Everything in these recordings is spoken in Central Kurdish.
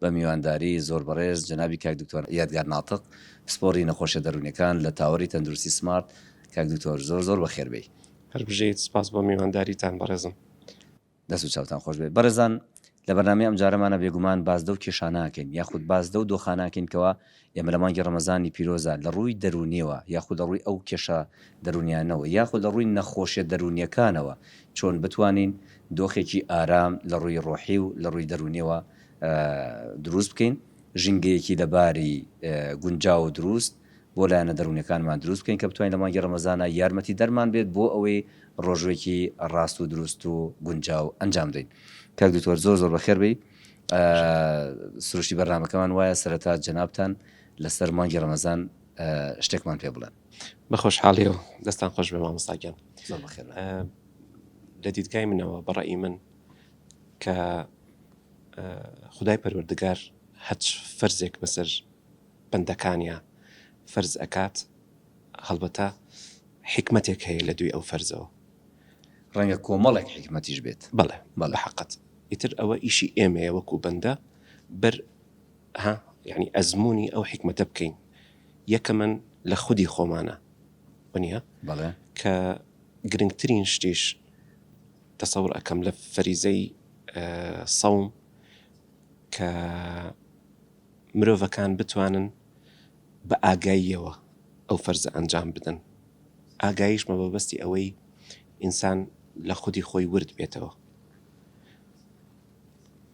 بە میوانداری زۆر بەڕێز جەنابی کاک دکتۆر یادگار ناتق پسپۆڕی نەخۆشیە دەرونیەکان لە تاوەری تەندروستی سمارت کاک دکتۆر زۆر زۆر بەخێربێی. هەر بژیت سپاس بۆ میوانداریتان بەڕێزم. دەست و چاوتان خۆش بێت بەڕێزان لە بەرنامەی ئەمجارەمانا بێگومان باس دەو کێشانە ئەکەین یاخود باس دەو دۆخانە ئەکەین کەوا ئێمە لە مانگی ڕەمەزانی پیرۆزدا لە ڕووی دەروونییەوە یاخود لە ڕووی ئەو کێشە دەروونییانەوە یاخود لە ڕووی نەخۆشییە دەروونییەکانەوە چۆن بتوانین دۆخێکی ئارام لە ڕووی ڕۆحی و لە ڕووی دەروونییەوە دروست بکەین، ژینگەیەکی لەباری گونجاو و دروست بۆ لایەنە دەروونییەکانمان دروست بکەین کە بتوانین لە مانگی ڕەمەزانا یارمەتیدەرمان بێت بۆ ئەوەی ڕۆژووێکی ڕاست و دروست و گونجاو ئەنجام بدەین. کاک دکتۆر زۆر زۆر بەخێر بێی. سروشتی بەرنامەکەمان وایە سەرەتا جەنابتان لەسەر مانگی ڕەمەزان شتێکمان پێ بڵێن بە خۆشحاڵی و دەستان خۆش بێ مامۆستاگیان لە دیدگای منەوە بەڕی من کە خدای پەروەردگار هەچ فەرزێک بەسەر بەندەکانە فەرز ئەکات هەڵبەتە حکمتێک هەیە لە دوی ئەو فەرزەوە ڕەنگە کۆمەڵێک حیکمەتیش بێت. بەڵێ بە حەقت ئیتر ئەوە ئیشی ئێمەیە وەکو بەندە بەر ها یەعنی ئەزموونی ئەو حیکمەتە بکەین یەکەمەن لە خودی خۆمانە وەنیە بەڵێ کە گرنگترین شتیش تەسەور ئەکەم لە فەریزەی سەوم کە مرۆڤەکان بتوانن بە ئاگاییەوە ئەو فەرزە ئەنجام بدەن، ئاگاییش بە مەبەستی ئەوەی ئینسان لە خودی خۆی ورد بێتەوە.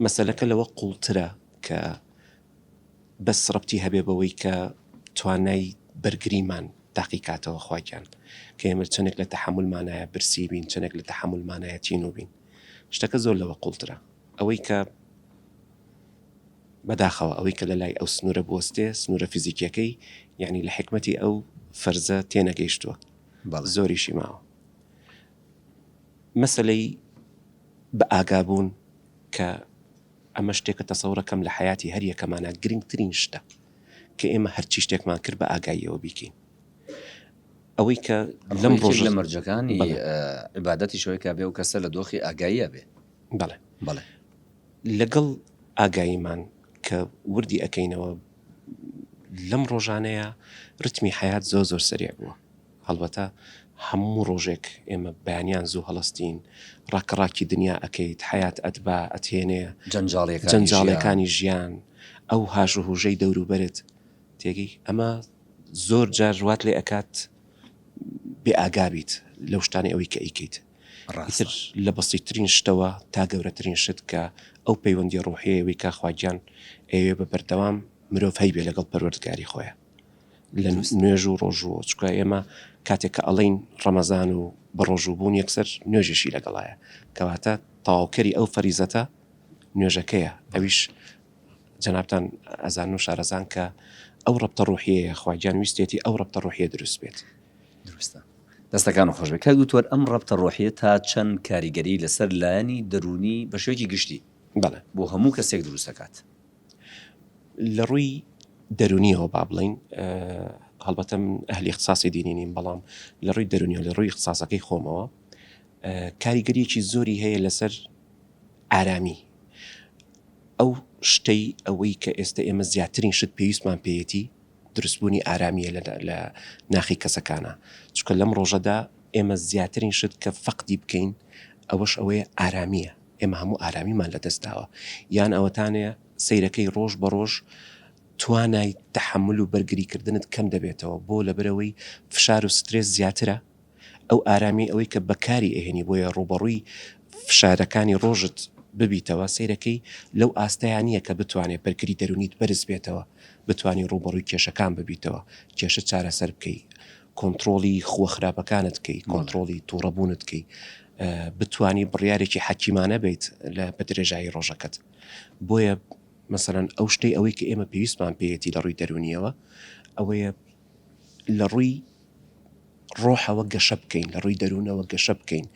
مەسەلەکە لەوە قووڵترە کە بەس ڕەبتی هەبێ بەوەی کە توانای بەرگریمان تاقیکاتەوە خوا گیان کە ئێمە چەندێک لە تەحەمولمانایە برسی بین، چەندێک لە تەحەمولمانایە تینوو بین. شتەکە زۆر لەوە قووڵترە. ئەوەی کە بەداخەوە ئەوەی کە لەلای ئەو سنوورە بوەستێ سنوورە فیزیکیەکەی یەعنی لە حیکمەتی ئەو فەرزە تێنەگەیشتووە زۆریشی ماوە مەسەلەی بە ئاگابوون کە ئەمە شتێکە تەسەورەکەم لە حیاتی هەر یەکەمانە گرنگترین شتە کە ئێمە هەرچی شتێکمان کرد بە ئاگاییەوە بیکەین ئەوەی کە لەم ڕۆژ لە مەرجەکانی عبادەتی شوی کابێ و کەسە لە دۆخی ئاگاییە بێ بەڵێ بەڵێ لەگەڵ ئاگاییمان کە وردی ئەکەینەوە لەم ڕۆژانەیا ڕیتمی حەیات زۆر زۆر سەریع بووە هەڵبەتە هەموو ڕۆژێک ئێمە بەیانیان زوو هەڵەستین ڕاکە ڕاکی دنیا ئەکەیت حەیات ئەتبا ئەتهێنێ جەنجاڵیەکانی ژیان ئەو هاژ و هوژەی دەوروبەرت تێگەی ئەمە زۆر جار وات لێ ئەکات بێ ئاگابیت لەو شتانی ئەوی کە ئەیکەیت ئیتر لە بەسیتترین شتەوە تا گەورەترین شت کە ئەو پەیوەندی ڕوحیەیە وی کا خواگیان ئەوێ بە بەردەوام مرۆڤ هەی بێ لەگەڵ پەروەردگاری خۆیان لە نوێژ و ڕۆژوە چکە ئێمە کاتێک کە ئەڵین ڕەمەزان و بە ڕۆژوو بوون یەکسەر نوێژێکی لەگەڵایە کەواتە تاوکەری ئەو فەریزەتە نوێژەکەیە ئەویش جەنابان ئەزان و شارەزان کە ئەو ڕەبتە ڕوحەیە خواگیان ویستێتی ئەو ڕەبتە ڕوحە دروست بێت دروستە. دەستەکانت خۆشبێت کاک دکتۆر ئەم ڕەبتە ڕۆحیە تا چەند کاریگەری لەسەر لایەنی دەروونی بەشێوەکی گشتی بۆ هەموو کەسێک دروست دەکات؟ لە ڕووی دەروونیەوە با بڵێین هەڵبەتە من ئەهلی اختصاصی دینی نیم بەڵام لە ڕووی دەروونیەوە لە ڕووی اختصاصەکەی خۆمەوە کاریگەریەکی زۆری هەیە لەسەر ئارامی ئەو شتەی ئەوەی کە ئێستا ئێمە زیاترین شت پێویستمان پێیەتی دروستبوونی ئارامیە لە لە ناخی کەسەکانا چونکە لەم ڕۆژەدا ئێمە زیاترین شت کە فەقدی بکەین ئەوەش ئەوەیە ئارامیە ئێمە هەموو ئارامیمان لە دەستداوە یان ئەوەتانەیە سیرەکەی ڕۆژ بە ڕۆژ توانای تحمل و بەرگریکردنت کەم دەبێتەوە بۆ لەبەرەوەی فشار و سترێس زیاترە ئەو ئارامیەی ئەوەی کە بەکاری ئەهێنی بۆیە ڕووبەڕووی فشارەکانی ڕۆژت ببیتەوە سەیرەکەی لەو ئاستەیا نیە کە بتوانێ بەرگری دەرونیت بەرز بێتەوە بتوانی ڕووبەڕووی کێشەکان ببیتەوە کێشە چارەسەر بکەی کۆنتڕۆڵی خووە خراپەکانت کەی کۆنتڕۆڵی توڕە بوونت کەی بتانی بڕیارێکی حەکیمانە بیت لە بە درێژایی ڕۆژەکەت بۆیە مەسەرەن ئەو شتەی ئەوەی کە ئێمە پێویستمان پێیەتی لە ڕووی دەرونیەوە ئەوەیە لە ڕووی ڕۆحەوە گەشە بکەین لە ڕووی دەروونەوە گەشە بکەین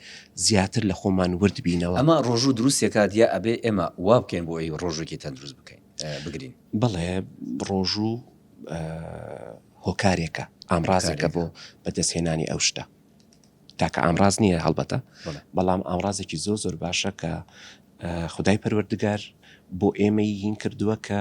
زیاتر لە خۆمان ورد بینەوە. ئەمە ڕۆژوو دروست دەکات یا ئەبێ ئێمە وا بکەین بۆ ئەوی ڕۆژووێکی تەندروست بکەین بگرین؟ بەڵێ ڕۆژوو هۆکارێکە ئامڕازێکە بۆ بەدەستهێنانی ئەو شتە تاکە ئامڕاز نییە هەڵبەتە بەڵام ئامڕازێکی زۆ زۆر باشە کە خدای پەروەردگار بۆ ئێمەی هین کردووە کە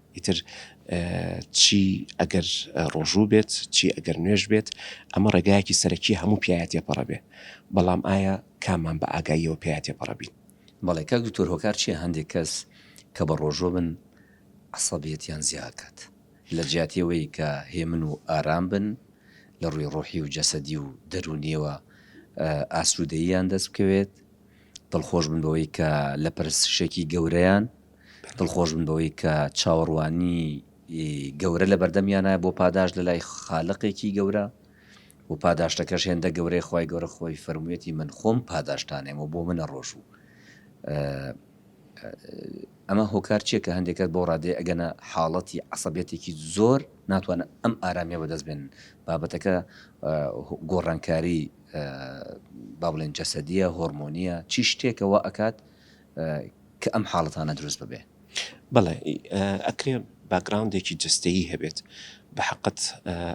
ئیتر چی ئەگەر ڕۆژوو بێت چی ئەگەر نوێژ بێت ئەمە ڕێگایەکی سەرەکی هەموو پیاە تێپەڕە بێ بەڵام ئایا کامان بە ئاگاییەوە پێیا تێپەڕە بین بەڵێ کاک دکتۆر هۆکار چیە هەندێک کەس کە بە ڕۆژۆ بن عسەبیەتیان زیاکات لە جیاتیەوەی کە هێمن و ئارام بن لە ڕووی ڕۆحی و جەسەدی و دەرونیەوە ئاسوودەییان دەست بکەوێت دڵخۆش بن بەوەی کە لە پرسشێکی گەورەیان دڵخۆش بن بەوەی کە چاوەڕوانی گەورە لە بەردەمیانە بۆ پاداش لە لای خالقێکی گەورە و پاداشتەکەش هێندە گەورەی خی گەورە خۆی فەرموویەتی من خۆم پاداشتانێم و بۆ منە ڕۆژ و ئەمە هۆکار چیە کە هەندێکات بۆ ڕادێ ئەگەنە حاڵەتی عسەبێتێکی زۆر ناتوانن ئەم ئارامیە بەدەست بێنن بابەتەکە گۆڕانکاری با بڵێن جەسەدیە هۆرمۆنیە چی شتێکەوە ئەکات کە ئەم حاڵەتانە دروست ببێ. بەڵێ ئەکرێ باکگراوندێکی جەستەیی هەبێت، بەحەقت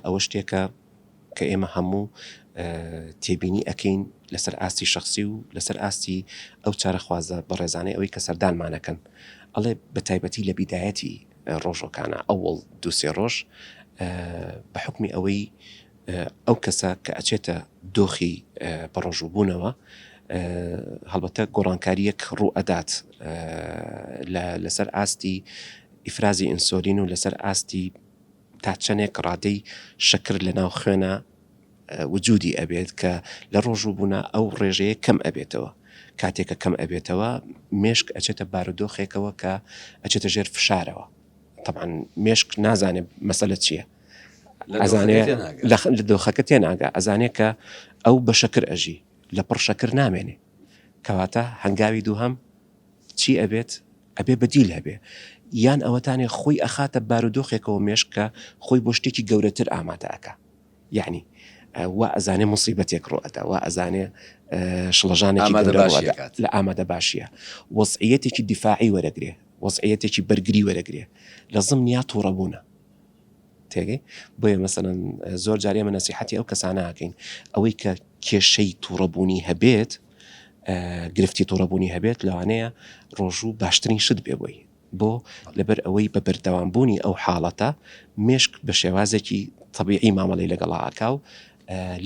ئەوە شتێکە کە ئێمە هەموو تێبینی ئەکەین لەسەر ئاستی شخصی و لەسەر ئاستی ئەو چارەخوازە بەڕێزانەی ئەوەی کە سەردانمانەکەن ئەڵێ بە تایبەتی لە بیدایەتی ڕۆژەکانە ئەوەڵ دووسێ ڕۆژ بە حکمی ئەوەی ئەو کەسە کە ئەچێتە دۆخی بەڕۆژوو بوونەوە هەڵبەتە گۆڕانکاریەک ڕوو ئەدات لەسەر ئاستی ئیفرازی ئینسۆلین و لەسەر ئاستی تا چەندێک ڕادەی شەکر لە ناو خوێنە وجودی ئەبێت کە لە ڕۆژوو بوونا ئەو ڕێژەیە کەم ئەبێتەوە کاتێکە کەم ئەبێتەوە مێشک ئەچێتە بارودۆخێکەوە کە ئەچێتە ژێر فشارەوە طبعا مێشک نازانێت مەسەلە چییە ئەزانێ لە دۆخەکە تێناگا ئەزانێ کە ئەو بە شەکر ئەژی لە پڕ شەکر نامێنێ کەواتە هەنگاوی دووهم چی ئەبێت ئەبێ بەدیل هەبێ یان ئەوەتانێ خۆی ئەخاتە بارودۆخێکەوە مێشکە خۆی بۆ شتێکی گەورەتر ئامادەکە یعنی وا ئەزانێ مصیبەتێک ڕۆەتە وا ئەزانێ شڵەژانێکی لە ئامادە باشیە وەسعەتێکی دیفاعی وەرەگرێ وەسعەتێکی بەرگری وەرەگرێ لە زم نیا تووڕەبوونە تێگەی بۆیە مەسەلەن زۆر جار ئێمە نەسیحەتی ئەو کەسانە ئەکەین ئەوەی کە کێشەی تووڕەبوونی هەبێت گرفتی تووڕەبوونی هەبێت لەوانەیە ڕۆژوو باشترین شت بێ بۆی بۆ لەبەر ئەوەی بە بەردەوامبوونی ئەو حاڵەتە مێشک بە شێوازێکی طبیعی مامەڵی لەگەڵاکا و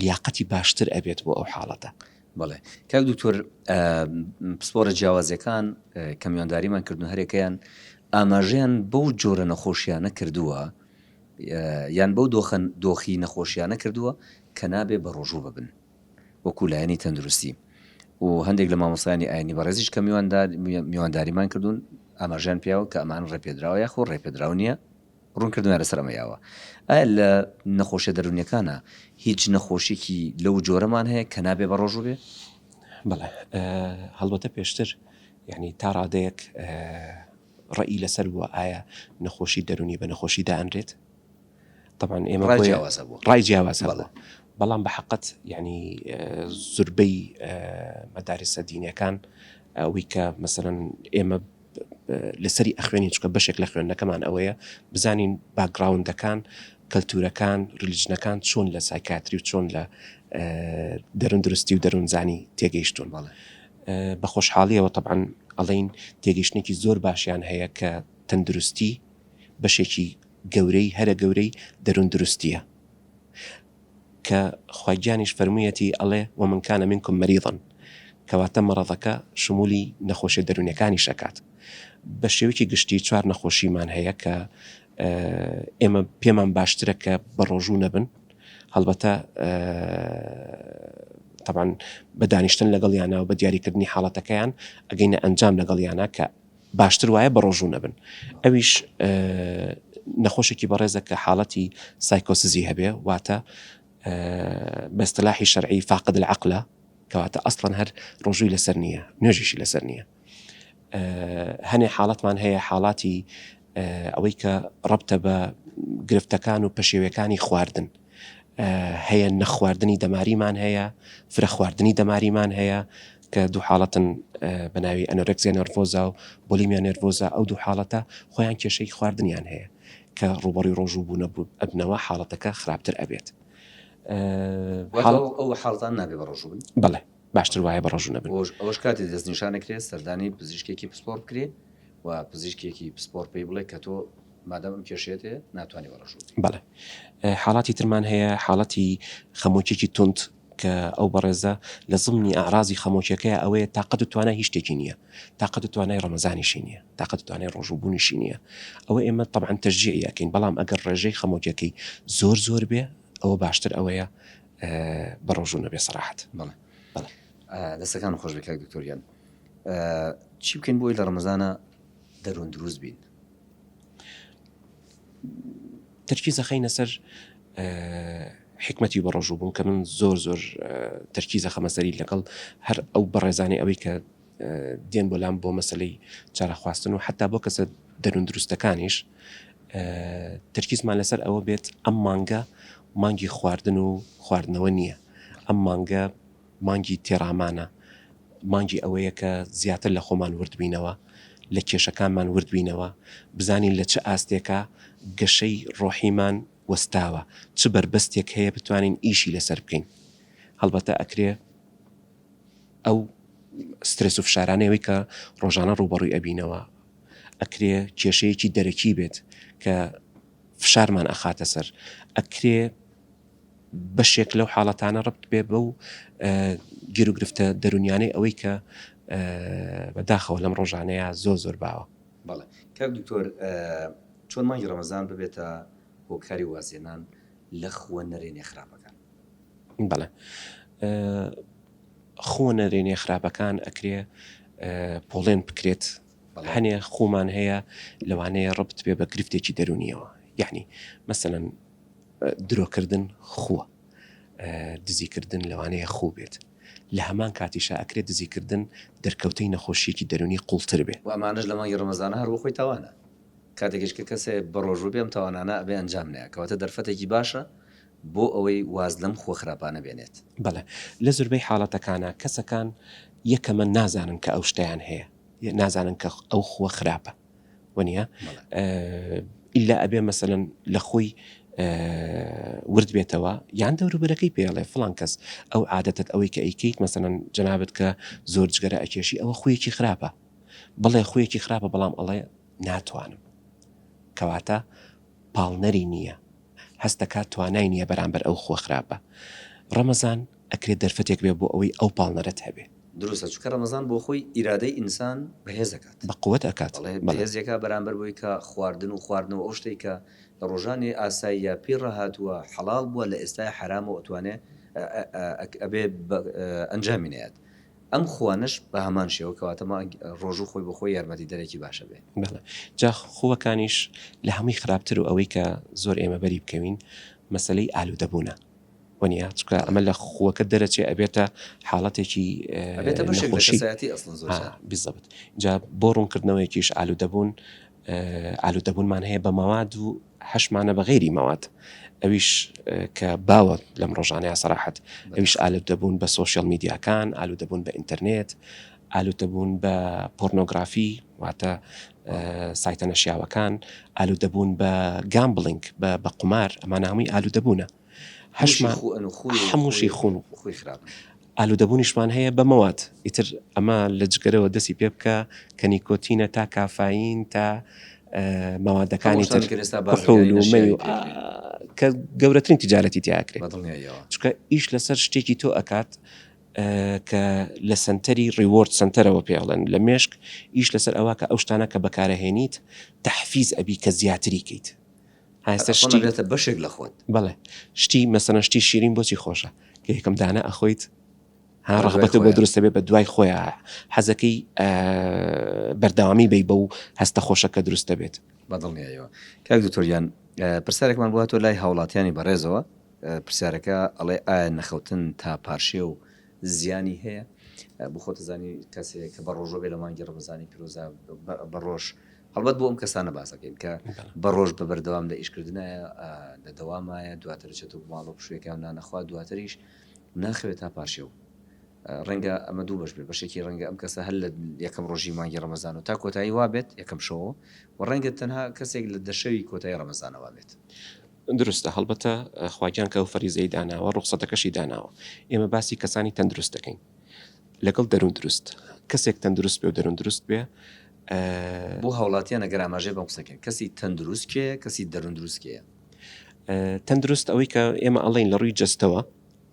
لیاقەتی باشتر ئەبێت بۆ ئەو حاڵەتە بەڵێ کاک دوکتۆر پسپۆرە جیاوازەکان کە میوانداریمان کردن هەرێکەیان ئاماژیان بەو جۆرە نەخۆشیانە کردووە یان بەو دۆخەن دۆخی نەخۆشیانە کردووە کە نابێ بە ڕۆژوو ببن وەکو لایەنی تەندروستی و هەندێک لە مامۆسایانی ئاینی بەڕێزیش کە میواندار میوانداریمان کردوون ئاماژیان پیاوە کە ئەمان ڕێپێدراوە یاخۆ ڕێپێدراو نییە ڕوونکردنە لەسەر ئەمەی ئاوا ئایا لە نەخۆشیە دەرونیەکانا هیچ نەخۆشیەکی لەو جۆرەمان هەیە کە نابێ بە ڕۆژوو بێ؟ بەڵێ هەڵبەتە پێشتر یعنی تا ڕادەیەک ڕێی لەسەر بووە ئایا نەخۆشی دەرونی بە نەخۆشی دانرێت طبعاان ئێمە ڕای جیاواز بوو ڕای جیاواز بەڵێ بەڵام بە حقت یعنی زوربەی مەدارسە دینەکان ئەوی کە مەسەن ئێمە لەسەری ئەخوێنین چکە بەشێک لە خوێندنەکەمان ئەوەیە بزانین باگراوندەکان کەلتورەکان ریلیجنەکان چۆن لە سایکاتری و چۆن لە دەرون درستی و دەروونزانی تێگەیشتون باڵێ بە خۆشحاڵیەوە طبعاان ئەڵین تێگەشتێکی زۆر باشیان هەیە کە تەندروستی بەشێکی گەورەی هەرە گەورەی دەروون دروستە کە خوا گیانیش فەرموویەتی ئەڵێ، ومن کان منکم مریضا، کەواتە مەڕەضەکە شمولی نەخۆشیە دەروونیەکانیش ئەکات. بە شێوەیەکی گشتی چوار نەخۆشیمان هەیە کە ئێمە پێمان باشترە کە بە ڕۆژوو نەبن، هەڵبەتە تەبعەن بە دانیشتن لەگەڵیانا و بە دیاریکردنی حاڵەتەکەیان ئەگەینە ئەنجام لەگەڵیانا کە باشتر وایە بەڕۆژوو نەبن. ئەویش نەخۆشێکی بەڕێزە کە حاڵەتی سایکۆسزی هەبێ واتە بە اصطلاحی شەرعی فاقد العقلە کەواتە ئەسڵەن هەر ڕۆژووی لەسەر نییە نوێژیشی لەسەر نییە هەنێ حاڵەتمان هەیە حاڵاتی ئەوەی کە ڕبتە بە گرفتەکان و پەشێوەکانی خواردن هەیە نەخواردنی دەماریمان هەیە فرە خواردنی دەماریمان هەیە کە دوو حاڵەتن بە ناوی ئەنۆرێکسیا نێرڤۆزا و بۆلیمیا نێرڤۆزا، ئەو دوو حاڵەتە خۆیان کێشەی خواردنیان هەیە کە ڕووبەڕووی ڕۆژوو بوون ئەبنەوە حاڵەتەکە خراپتر ئەبێت. واتە ئەو حاڵەتانە نابێت بە ڕۆژوو بن؟ بەڵێ باشتر وایە بە ڕۆژوو نەبن. ئەوەش کاتی دەستنیشان ئەکرێت سەردانی پزیشکێکی پسپۆڕ بکرێت و پزیشکێکی پسپۆڕ پێی بڵێت کە تۆ مادام ئەم کێشەیەت هەیە ناتوانانی بە ڕۆژوو بن. بەڵێ حاڵاتی ترمان هەیە حاڵەتی خەمۆکیی توند کە ئەو بەڕێزە لە زمنی ئەعرازی خەمۆکیەکەیا ئەوەیە تاقەت و توانای هیچ شتێکی نیە تاقەت و توانای ڕەمەزانیشی نیە تاقەت و توانای ڕۆژوو بوونیشی نیە ئەوە ئێمە تەبعەن تەشجیعی ئەکەین بەڵام ئەگەر ڕێژەی خەمۆکیەکەی زۆر زۆر بێ ئەوە باشتر ئەوەیە بە ڕۆژوو نەبێ سەراحەت بەڵێ بەڵێ دەستەکان خۆش بێ کاک دکتۆر گیان چی بکەین بۆی لە ڕەمەزانە دەروون دروست بین تەرکیز ئەخەینە سەر حکمەتی بەڕۆژوو بوون کە من زۆر زۆر تەرکیزە خەمەسەری لەگەڵ هەر ئەو بەڕێزانانی ئەوەی کە دێن بۆ لام بۆ مەسلەی چارەخواستن و حتا بۆ کەسە دەروون دروستەکانیش تەرکیزمان لەسەر ئەوە بێت ئەم مانگە مانگی خواردن و خواردنەوە نییە ئەم مانگە مانگی تێڕامانە، مانگی ئەوەیە کە زیاتر لە خۆمان ورد بینەوە، لە کێشەکانمان ورد بینەوە، بزانین لە چ ئاستێکا گەشەی ڕۆحیمان وەستاوە، چ بەربەستێک هەیە بتوانین ئیشی لەسەر بکەین. هەڵبەتە ئەکرێ ئەو سترێس و فشارانەی کە ڕۆژانە ڕووبەڕووی ئەبینەوە، ئەکرێ کێشەیەکی دەرەکی بێت کە فشارمان ئەخاتە سەر، ئەکرێ، بەشێک لەو حاڵەتانە ڕەبت بێ بەو گیروگرفتە دەرونیانەی ئەوەی کە بە داخەوە لەم ڕۆژانەیە زۆر زۆر باوە. بەڵێ کاک دکتۆر چۆن مانگی ڕەمەزان ببێتە هۆکاری وازهێنان لە خووە نەرێنیە خراپەکان؟ بەڵێ خووە نەرێنیە خراپەکان ئەکرێ پۆڵێن بکرێت هەنێ خومان هەیە لەوانەیە ڕبت بێ بە گرفتێکی دەرونیەوە یعنی مەسەن درۆکردن خووە دزیکردن لەوانەیە خوو بێت لە هەمان کاتیشا ئەکرێ دزیکردن دەرکەوتەی نەخۆشیەکی دەرونی قوڵتر بێ. وە ئەمانەش لە مانگی ڕەمەزانە هەر بۆخۆی تاوانە کاتێکیش کە کەسێ بەڕۆژوو بێ ئەم تاوانانە ئەبێ ئەنجام نەیا کەواتە دەرفەتێکی باشە بۆ ئەوەی واز لەم خووە خراپانە بێنێت. بەڵێ لە زوربەی حاڵەتەکانا کەسەکان یەکەمە نازانن کە ئەو شتەیان هەیە نازانن کە ئەو خووە خراپە. وەنیە ئللا ئەبێ مەسەن لە خۆی ورد بێتەوە یان دەوروبەرەکەی پێڵێ فلان کەس ئەو عادەتت ئەوەی کە ئەیکەیت مەسەن جنابەت کە زۆر جگەرە ئەکێشی ئەوە خویەکی خراپە بڵێ خویەکی خراپە بەڵام ئەڵێ ناتوانم کەواتە پاڵنەری نییە هەستەکە توانای نییە بەرامبەر ئەو خۆ خراپە ڕەمەزان ئەکرێت دەرفەتێک بێت بۆ ئەوەی ئەو پاڵنەرەت هەبێت. دروستە چونکە ڕەمەزان بۆ خۆی ئیرادەی ئینسان بەهێز ئەکات. بە قوت ئەکات. بەڵێ بەهێز ئەکات بەرامبەر بەوەی کە خواردن و خواردنەوە ئەو شتەی کە لە ڕۆژانی ئاساییە پێی ڕاهاتووە حەڵاڵ بووە لە ئێستای حەرامە و ئەتوانێت ئەبێ ئەنجامی نەیات ئەم خووانەش بە هەمان شێوە کەواتە مانگ ڕۆژوو خۆی بۆ خۆی یارمەتی دەرێکی باشە بێ. بەڵێ جا خووەکانیش لە هەمووی خراپتر و ئەوەی کە زۆر ئێمە بەری بکەوین مەسەلەی ئالوودە بوونە. و نیە چونکە ئەمە لە خوەکە دەرەچێ ئەبێتە حاڵەتێکی نەخۆشی بزەبت جا بۆ ڕوونکردنەوەیکیش ئالوودەبوون ئالوودەبوونمان هەیە بە مەواد و هەشمانە بە غیری مەواد ئەویش کە باوە لەم ڕۆژانەیە سەراحەت ئەویش ئالت دەبوون بە سوۆشیل میدیاکان ئالو دەبوون بە ئینتەرنێت ئالوودەبوون بە پۆرنۆگرافی واتە سایتە نەشیاوەکان، ئالوودەبوون بە گامبڵینگ بە قومار ئەمانە هەمووی ئالوودەبوونە. هەشمان هەمووشی خوون و خوی خراپ. ئالوودەبوونیشمان هەیە بە مەواد ئیتر ئەمە لە جگەرەوە دەستی پێ بکە کە نیکۆتینە تا کافایین تا مەوادەکانی تر کحول و مەی و کە گەورەترین تیجارەتی تیا ئەکرێ چونکە ئیش لەسەر شتێکی تۆ ئەکات کە لە سەنتەری ڕیوۆرد سەنتەرەوە پێ ئەڵێن لە مێشک ئیش لەسەر ئەوە کە ئەو شتانە کە بەکارەهێنیت تەحفیز ئەبی کە زیاتری کەیت هەستە شتی بێتە بەشێک لە خۆت بڵێ شتی مەسەنە شتی شیرین بۆچی خۆشە کە یەکەم دانە ئەخۆیت ها ڕغبەت بۆ دروستە بێ بە دوای خۆیان حەزەکەی بەرداوامی بی بە و هەستە خۆشەکە دروستە بێت بەدڵنیایەوە کاک دکتۆریان پرسیارێکمان بووە تۆ لای هاوڵاتیانی بەڕێزەوە پرسیارەکە ئەڵێ ئایا نەخەوتن تا پارشێو زیانی هەیە؟ بۆ خۆت ئەزانی کەس هەیە کە بە ڕۆژۆ بێ لە مانگی ڕەمەزانی پیرۆزا بە ڕۆژ هەڵبەت بۆ ئەم کەسانە باسەکەین کە بە ڕۆژ بە بەردەوام لە ئیشکردنایە لە دەوامایە دواتر دەچێت و ماڵۆ پشوێکان نانەخوا دواتریش ناخەوێت تا پارشێو ڕەنگە ئەمە دوو بەش بێ بەشێکی ڕەنگە ئەم کەسە هەر لە یەکەم ڕۆژی مانگی ڕەمەزان و تا کۆتایی وابێت یەکەم شەوە و ڕەنگە تەنها کەسێک لە دەشەوی کۆتایی ڕەمەزانەوە بێت دروستە هەڵبەتە خواگیان کە ئەو فەریزەی داناوە ڕوخسەتەکەشی داناوە ئێمە باسی کەسانی تەندروست دەکەین لەگەڵ دەرون دروست کەسێک تەندروست بێ و دەرون دروست بێ بۆ هاوڵاتیان ئەگەر ئاماژەی بەم قسە کەن کەسی تەندروست کێیە کەسی دەرون دروست کێیە؟ تەندروست ئەوەی کە ئێمە ئەڵێن لە ڕووی جەستەوە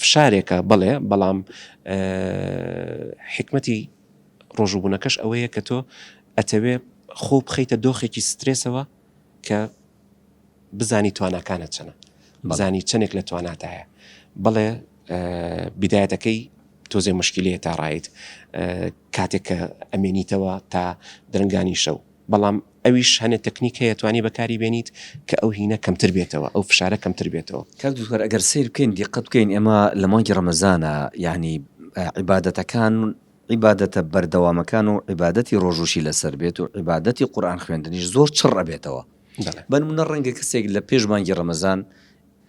فشارێکە بەڵێ بەڵام حکمەتی ڕۆژوبوونەکەش ئەوەیە کە تۆ ئەتەوێ خۆ بخیتە دۆخێکی سترێسەوە کە بزانی تواناکانت چەنە بزانی چەندێک لە تواناتایە بڵێ بدایەتەکەی تۆزێ مشکلەیە تا ڕایت کاتێک کە ئەمێنیتەوە تا درنگانی شەو بەڵام ئەویش هەنێ تەکنیک هەیە توانی بەکاری بێنیت کە ئەو هینە کەمتر بێتەوە ئەو فشارە کەمتر بێتەوە. کاک دکتۆر ئەگەر سەیر بکەین دیقەت بکەین ئێمە لە مانگی ڕەمەزانە یەعنی عیبادەتەکان عیبادەتە بەردەوامەکان و عیبادەتی ڕۆژوشی لەسەر بێت و عیبادەتی قورآن خوێندنیش زۆر چڕ ئەبێتەوە بەنمونە ڕەنگە کەسێک لە پێش مانگی ڕەمەزان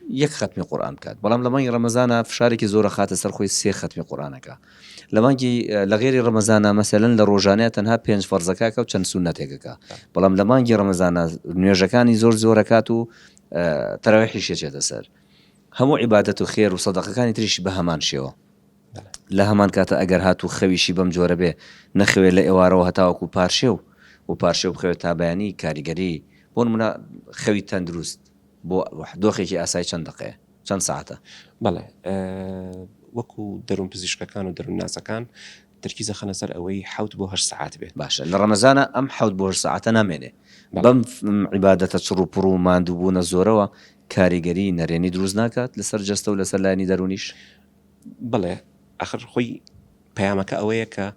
یەک خەتمی قورئان بکات بەڵام لە مانگی ڕەمەزانا فشارێکی زۆر ئەخاتە سەر خۆی سێ خەتمی قورئان ئەکا لە مانگی لە غێری ڕەمەزانا مەسەلەن لە ڕۆژانەیە تەنها پێنج فەرزەکە ئەکا و چەند سوننەتێک ئەکا بەڵام لە مانگی ڕەمەزانا نوێژەکانی زۆر زۆر ئەکات و تەراویحیش ئەچێتە سەر هەموو عیبادەت و خێر و سەدەقەکانی تریشی بە هەمان شێوە لە هەمان کاتە ئەگەر هات و خەویشی بەم جۆرە بێ نەخەوێت لە ئێوارەوە هەتاوەکو پارشێ و و پارشێ و بخەوێت تا بەیانی کاریگەری بۆ منە خەوی تەندروست بۆ دۆخێکی ئاسای چەند دەقەیە؟ چەند ساتە؟ بەڵێ وەکو دەروون پزیشکەکان و دەروونناسەکان ترکی زەخەنە سەر ئەوەی حوت بۆ هەش سعات بێت باشە لە ڕەمەزانە ئەم حوت بۆ سعاتە نامێنێ بەم عیباەتە چڕ و پڕ و مادووبوونە زۆرەوە کاریگەری نەرێنی دروست ناکات لەسەر جەستە و لەسەر لایانی دەرونیش بڵێ ئەخر خۆی پەیامەکە ئەوەیە کە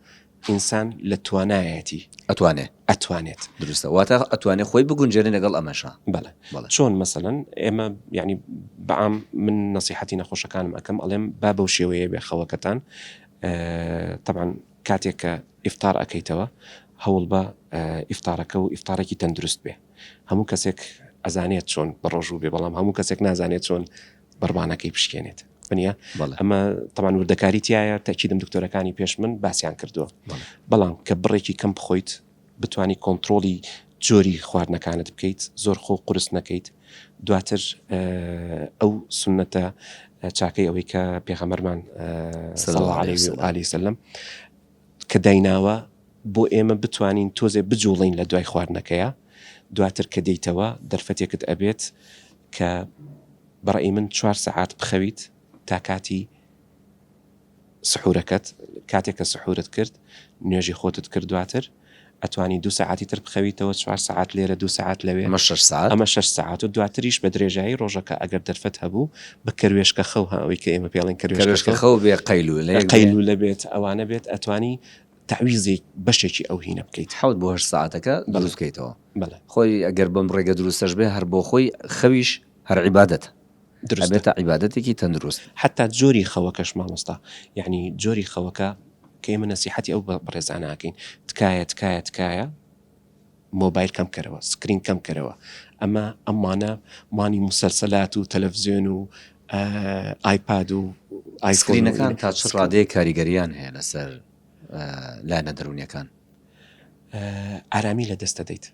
ئینسان لە توانایەتی. ئەتوانێت. ئەتوانێت. دروستە واتە ئەتوانێت خۆی بگونجێنێ لەگەڵ ئەمەشە. بەڵێ. بەڵێ. چۆن مەسەلەن ئێمە یانی بەعام من نەسیحەتی نەخۆشەکانم ئەکەم ئەڵێم با بەو شێوەیە بێ خەوەکەتان تەبعەن کاتێک کە ئیفتار ئەکەیتەوە هەوڵ بە ئیفتارەکە و ئیفتارێکی تەندروست بێ هەموو کەسێک ئەزانێت چۆن بەڕۆژوو بێ بەڵام هەموو کەسێک نازانێت چۆن بڕبانەکەی پشکێنێت بنە ئەمە تەمان وردەکاری تایە تاکیدم دکتۆرەکانی پێش من باسییان کردووە بەڵام کە بڕێکی کەم بخۆیت بتانی کۆنتترۆلی جۆری خواردنەکانت بکەیت زۆر خۆ قرس نەکەیت دواتر ئەو سنەتە چاکەی ئەوەی کە پێخەمەرمان سەڵ عالی سەلم کە دایناوە بۆ ئێمە بتوانین تۆزێ بجوڵێین لە دوای خواردنەکەیا دواتر کە دێیتەوە دەرفەتێکت ئەبێت کە بە ڕەئی من چوار سەعات بخەویت تا کاتی سحورەکەت کاتێک کە سحورت کرد نوێژی خۆتت کرد دواتر ئەتوانی دوو سەعاتی تر بخەویتەوە، چوار سەعات لێرە دوو سەعات لەوێ، ئەمە شەش سەعات. ئەمە شەش سەعات و دواتریش بە درێژایی ڕۆژەکە ئەگەر دەرفەت هەبوو بە کەروێشکە خەو ها ئەوەی کە ئێمە پێ ئەڵێن کەروێشکە خەو. کەروێشکە خەو بێ قەیلوولە بێ. قەیلوولە بێت ئەوانە بێت ئەتوانی تەعویزێک بەشێکی ئەو هینە بکەیت. حەوت بۆ هەشت سەعاتەکە دروست بکەیتەوە. بەڵێ. خۆی ئەگەر بەم ڕێگە دروستەش بێ هەر بۆخۆی خەویش. هەر عیبادەت دروستە ئەبێتە عیبادەتێکی تەندروست. حەتا جۆری خەوەکەش مامۆستا یەعنی جۆری خەوەکە کە ئێمە نەسیحەتی ئەو بەڕێزانە ئەکەین تکایە تکایە تکایە مۆبایل کەم کەرەوە سکرین کەم کەرەوە ئەمە ئەمانە مانی موسەلسەلات و تەلەڤزیۆن و ئایپاد و ئایسکرینەکان تا چ ڕادەیە کاریگەریان هەیە لەسەر لایەنە دەروونیەکان؟ ئارامی لە دەست دەدەیت.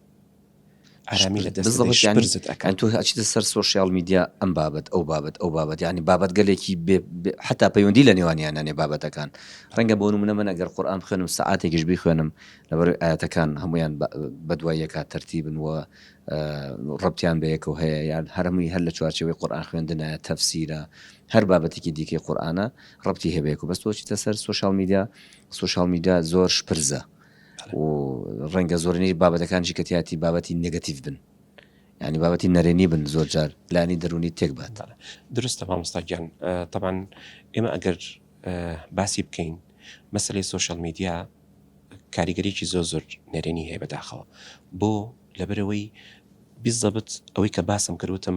ئارامی لە دەست دەدەی شپرزت ئەکا. تۆ ئەچیتە سەر سۆشیاڵ میدیا ئەم بابەت ئەو بابەت ئەو بابەت یانی بابەتگەلێکی بێ حەتا پەیوەندی لە نێوانیان نانێ بابەتەکان ڕەنگە بۆ نمونە من ئەگەر قورئان بخوێنم سەعاتێکیش بیخوێنم لەبەرەوەی ئایەتەکان هەموویان بەدوای یەکا تەرتیبن و ڕەبتیان بەیەکەوە هەیە یان هەرمووی هەر لە چوارچێوەی قورئان خوێندنایە تەفسیرە هەر بابەتێکی دیکەی قورئانە ڕەبتی هەبێک و بەس تۆ چیتە سەر سۆشیاڵ میدیا سۆشیاڵ میدیا زۆر شپرزە و ڕەنگە زۆرنیش بابەتەکانشی کە تیاتی بابەتی نگەتیف بن ینی بابەتی نەرێنی بن زۆر جار لانی دەرونی تێک بات درستە مامۆستاگیان تەبان ئێمە ئەگەر باسی بکەین مەسلەی سوۆشل میدیا کاریگەریکی زۆر زۆر نەرێنی هەیە بەداخەوە بۆ لەبەرەوەی بیزەبت ئەوەی کە باسم کردوتم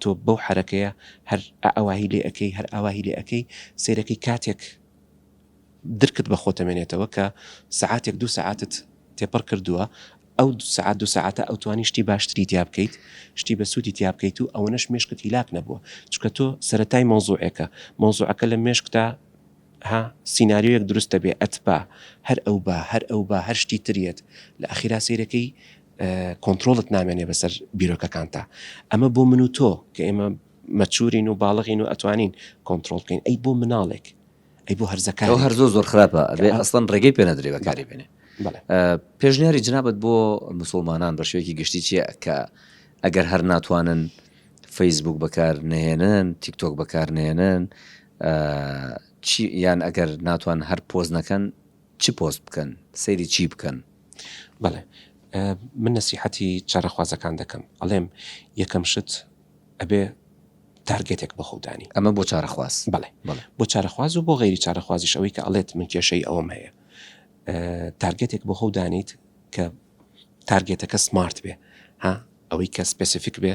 تۆ بەو حەرەکەیە هەر ئائەواهی لێ ئەکەی هەر ئاواهی لێ ئەکەی سەیرەکەی کاتێک درکت بە خۆت ئەمێنێتەوە کە سەعاتێک دوو سەعاتت تێپەڕ کردووە ئەو دوو سەعات دوو سەعاتە ئەتوانی شتی باشتری تیا بکەیت شتی بە سوودی تیا بکەیت و ئەوەنەش مێشکت هیلاک نەبووە چونکە تۆ سەرەتای مەوزوعێکە مەوزوعەکە لە مێشکتا ها سیناریۆیەک دروست دەبێ ئەتبا هەر ئەو با هەر ئەو با هەر شتی تر یەت لە ئەخیرا سەیرەکەی کۆنترۆڵت نامێنێ بەسەر بیرۆکەکانتا ئەمە بۆ من و تۆ کە ئێمە مەچورین و باڵغین و ئەتوانین کۆنتترۆل بکەین ئەی بۆ مناڵێک ئەی بۆ هەرزەکە ئەو هەر زۆ زۆر خراپە ئەبێ ئەسڵەن ڕێگەی پێ نەدرێ بەکاری بێنێ پێشنیاری جنابەت بۆ مسلمانان بە شوێکی گشتی چیە کە ئەگەر هەر ناتوانن فەیسبوک بەکار نهێنن تیکتۆک بەکار نێنن چی یان ئەگەر ناتوان هەر پۆست نەکەن چ پۆست بکەن سەیری چی بکەن بەڵێ من نسیحەتی چارەخوازەکان دەکەم ئەڵێم یەکەم شت ئەبێ تارگێتێک بە خۆدانی ئەمە بۆ چارەخواز بڵێ بۆ چارەخواز و بۆ غیری چارەخوازیش ئەوەی کە ئەڵێت من کێشەی ئەوم هەیە تارگێتێک بۆ خۆ دانیت کە تارگێتەکە سمارت بێ ها ئەوەی کە سپسیفیک بێ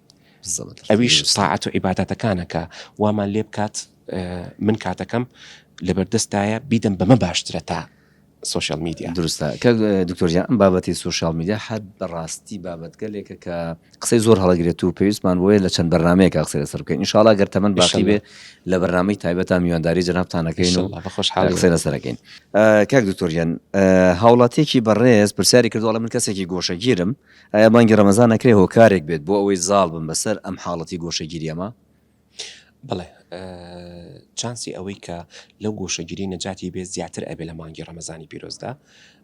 ئەویش تاعەت و عیباداتەکانە کە وامان لێ بکات من کاتەکەم لەبەردەستایە بیدەم بەمە باشترە تا سوۆشال میدیا دروستە کە دکتۆریان ئەم بابەتی سوۆشال میدیا حد بەڕاستی بابەتگەلێکە کە قسەی زۆر هەڵگرێت و پێویستمان بۆیە لە چەند بەرنمەیەکە قسە لەسەر بکەین انشاءڵا گەر تەمەەن باشی بێ لە بەرنمەی تایبەتە میوانداری جنابتانەکەین و قسە لەسەرەکەین کاک دکتۆریان هاوڵاتێکی بەڕێز پرسیاری کردوڵە من کەسێکی گۆشەگیرم ئایا بانگی ڕەمەزان ئەکرێ هۆکارێک بێت بۆ ئەوەی زاڵ بن بەسەر ئەم حاڵەتی گۆشەگیری ئەمە؟ بەڵێ چانسی ئەوەی کە لەو گۆشەگیری نەجاتی بێت زیاتر ئەبێ لە مانگی ڕەمەزانی پیرۆزدا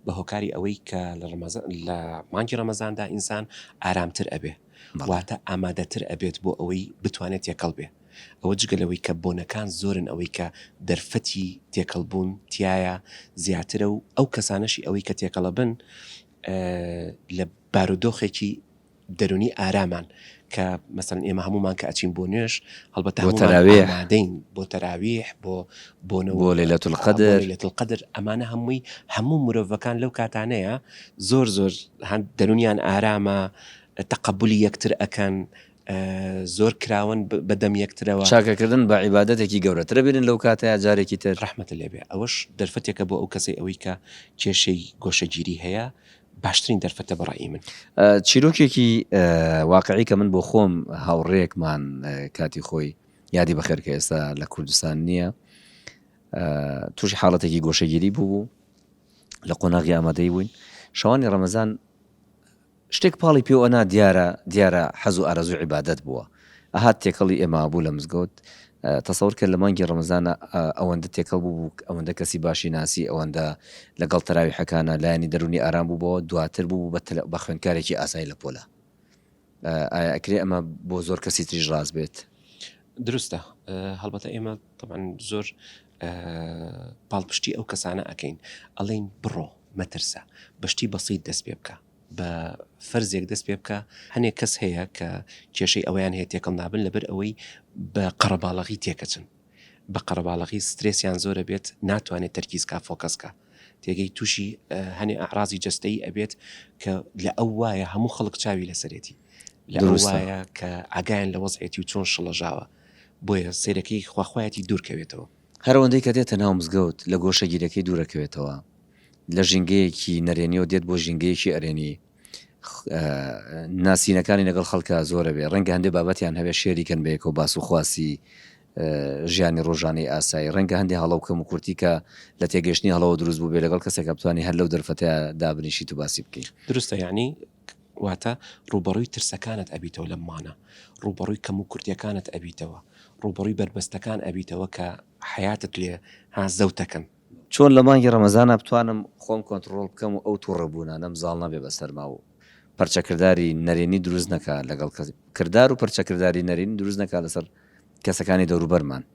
بە هۆکاری ئەوەی کە لە مانگی ڕەمەزاندا ئینسان ئارامتر ئەبێ واتە ئامادەتر ئەبێت بۆ ئەوەی بتوانێت تێکەڵ بێ ئەوە جگە لەوەی کە بۆنەکان زۆرن ئەوەی کە دەرفەتی تێکەڵبوون تایە زیاترە و ئەو کەسانەشی ئەوەی کە تێکەڵە بن لە بارودۆخێکی دەرونی ئارامان کە مەسەن ئێمە هەمومان کە ئەچین بۆ نوێش هەڵبەت تەراوێدەین بۆ تەراویح بۆ بۆنەوە لە لە تلقدر لە تلقدر ئەمانە هەمووی هەموو مرۆڤەکان لەو کاتانەیە زۆر زۆر هەند دەرونیان ئارامە تەقبلی یەکتر ئەەکەن زۆر کراوەن بە دەم یەکترەوە. چاکەکردن بە عیبادەتێکی گەورەترە بیرن لەو کاتەیا جارێکی تر. ڕەحمەتت لێ بێ ئەوەش دەرفەتێکە بۆ ئەو کەسەی ئەوەی کە کێشەی گۆشەگیری هەیە باشترین دەرفەتە بە ڕای من. چیرۆکێکی واقعی کە من بۆ خۆم هاوڕێیەکمان کاتی خۆی یادی بەخێر کە ئێستا لە کوردستان نییە تووشی حاڵەتێکی گۆشەگیری بوو بوو لە قۆناغی ئامادەی بووین شەوانی ڕەمەزان شتێک پاڵی پێو ئەنا دیارە دیارە حەز و ئارەزوی عیبادەت بووە ئەهات تێکەڵی ئێمە ئەبوو لە مزگەوت تەسەور کە لە مانگی ڕەمەزانە ئەوەندە تێکەڵ بوو بوو ئەوەندە کەسی باشی ناسی ئەوەندە لە گەڵ تەراویحەکانا لایەنی دەرونی ئارام بوو بەوە دواتر بوو بە تەلە بە خوێندکارێکی ئاسای لە پۆلە ئایا ئەکرێ ئەمە بۆ زۆر کەسی تریش ڕاست بێت؟ دروستە هەڵبەتە ئێمە تەبعەن زۆر پاڵپشتی ئەو کەسانە ئەکەین ئەڵین بڕۆ مەترسە بەشتی بەسییت دەست پێ بکە بە فەرزێک دەست پێ بکە هەنێک کەس هەیە کە کێشەی ئەویان هەیە تێکەڵ نابن لەبەر ئەوەی بە قەڕەباڵغی تێکەچن بە قەرەباڵغی سترێسیان زۆرە بێت ناتوانێت تەرکیزکە فۆکەسکە تێگەی تووشی هەنێ ئاڕازی جستەی ئەبێت کە لە ئەو وایە هەموو خەڵک چاوی لەسەرێتی لە وایە کە ئاگایان لە وەزعێتی و چۆن شڵەژاوە بۆیە سەیرەکەی خواخوایەتی دوور کەوێتەوە. هەرەوەندەی کە دێتە ناو مزگەوت لە گۆشەگیرەکەی دوورەکەوێتەوە، لە ژینگەیەکی نەرێنیەوە دێت بۆ ژینگەیەکی ئەرێنی، ناسینەکانی لەگەڵ خەڵکا زۆر ئەبێ، ڕەنگە هەندێ بابەتیان هەبێ شێری کەن بەیەکەوە باس و خواسی ژیانی ڕۆژانەی ئاسایی، ڕەنگە هەندێ هەڵە و کەموکورتی کە لە تێگەیشتنی هەڵەوە دروست بووبێ لەگەڵ کەسێکا بتوانی هەر لەو دەرفەتە دابنیشیت و باسی بکەی. دروستە یانی. واتە ڕووبەڕووی ترسەکانت ئەبیتەوە لەم مانە، ڕووبەڕووی کەموکورتیەکانت ئەبیتەوە، ڕووبەڕووی بەربەستەکان ئەبیتەوە کە حەیاتت لێ ها زەوتەکەن. چۆن لە مانگی ڕەمەزانا بتوانم خۆم کۆنتڕۆڵ بکەم و ئەو توڕە بوونانەم زاڵ نەبێ بە سەرما و پەرچە کرداری نەرێنی دروست نەکا لەگەڵ کەس کردار و پەرچە کرداری نەرێنی دروست نەکا لەسەر کەسەکانی دەوروبەرمان.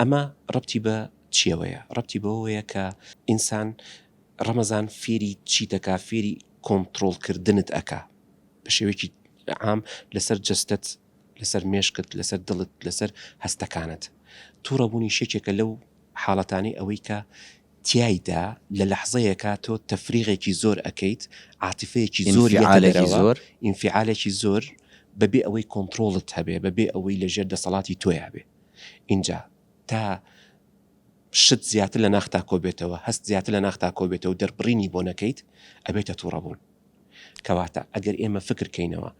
ئەمە ڕەبتی بە چیەوەیە؟ ڕەبتی بەوەوەیە کە ئینسان ڕەمەزان فێری چیت ئەکا فێری کۆنتڕۆڵ کردنت ئەکا بە شێوەیەکی عام لەسەر جەستەت لەسەر مێشکت لەسەر دڵت لەسەر هەستەکانت توڕە بوونیش یەکێکە لەو حاڵەتانەی ئەوەی کە تیایدا لە لەحزەیەکا تۆ تەفریغێکی زۆر ئەکەیت عاتیفەیەکی زۆر ئینفیعالێکی زۆر ئینفیعالێکی زۆر بەبێ ئەوەی کۆنتڕۆڵت هەبێ بەبێ ئەوەی لەژێر دەسەڵاتی تۆیا بێ. ئینجا تا شت زیاتر لە ناختا کۆبێتەوە، هەست زیاتر لە ناختا کۆبێتەوە و دەربڕینی بۆ نەکەیت، ئەبێتە توڕەبوون. کەواتە ئەگەر ئێمە فکر کەینەوە،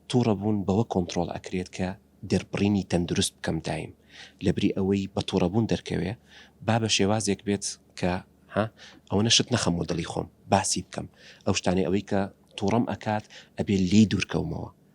توڕەبوون بەوە کۆنتڕۆڵ ئەکرێت کە دەربڕینی تەندروست بکەم دایم، لەبری ئەوەی بە توڕەبوون دەرکەوێ، با بە شێوازێک بێت کە ها ئەوەنە شت نەخەمۆ دڵی خۆم، باسی بکەم، ئەو شتانەی ئەوەی کە توڕەم ئەکات ئەبێ لێی دوورکەومەوە،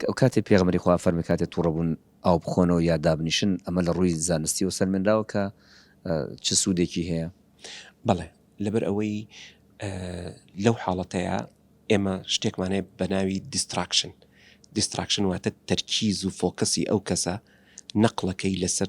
کە کاتێ پێغەمبەری خوا فەرمی کاتێ توڕە بوون ئاو بخۆنەوە یا دابنیشن ئەمە لە ڕووی زانستیەوە سەلمێنراوە کە چ سوودێکی هەیە؟ بەڵێ لەبەر ئەوەی لەو حاڵەتەیە ئێمە شتێکمانێ بە ناوی دیستراکشن دیستراکشن واتە تەرکیز و فۆکەسی ئەو کەسە نەقلەکەی لەسەر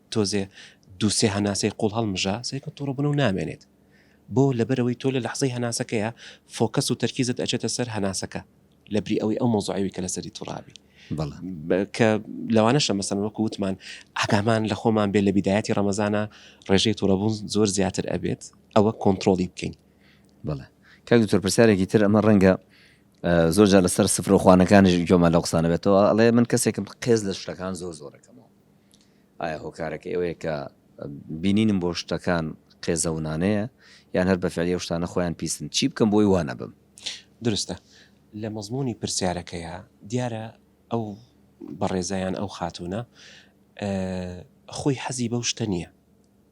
تۆزێ دوو سێ هەناسەی قوڵ هەڵمژە، سەیرکە توڕەبونە و نامێنێت. بۆ؟ لەبەرئەوەی تۆ لە لەحزەی هەناسەکەیا فۆکەس و تەرکیزت ئەچێتە سەر هەناسەکە لەبری ئەوەی ئەو مەوزوعەوی کە لەسەری توڕابی. بەڵێ. کە لەوانەشە مەسەن وەکو وتمان ئاگامان لە خۆمان بێ لە بیدایەتی ڕەمەزانا ڕێژەی توڕەبون زۆر زیاتر ئەبێت ئەوە کۆنتڕۆڵی بکەین. بەڵێ. کاک دکتۆر پرسیارێکی تر ئەمە ڕەنگە زۆر جار لەسەر سفرە و خوانەکانیش گوێمان لەو قسانە بێتەوە ئەڵێ من کەسێکم قێز لە شتەکان زۆر زۆر ئەکەمەوە. ئایا هۆکارەکەی ئەوەیە کە بینینم بۆ شتەکان قێزەونانەیە یان هەر بە فعلی ئەو شتانە خۆیان پیسن؟ چی بکەم بۆی وا نەبم؟ دروستە لە مەزموونی پرسیارەکەیا دیارە ئەو بەڕێزە یان ئەو خاتوونە خۆی حەزی بەو شتە نییە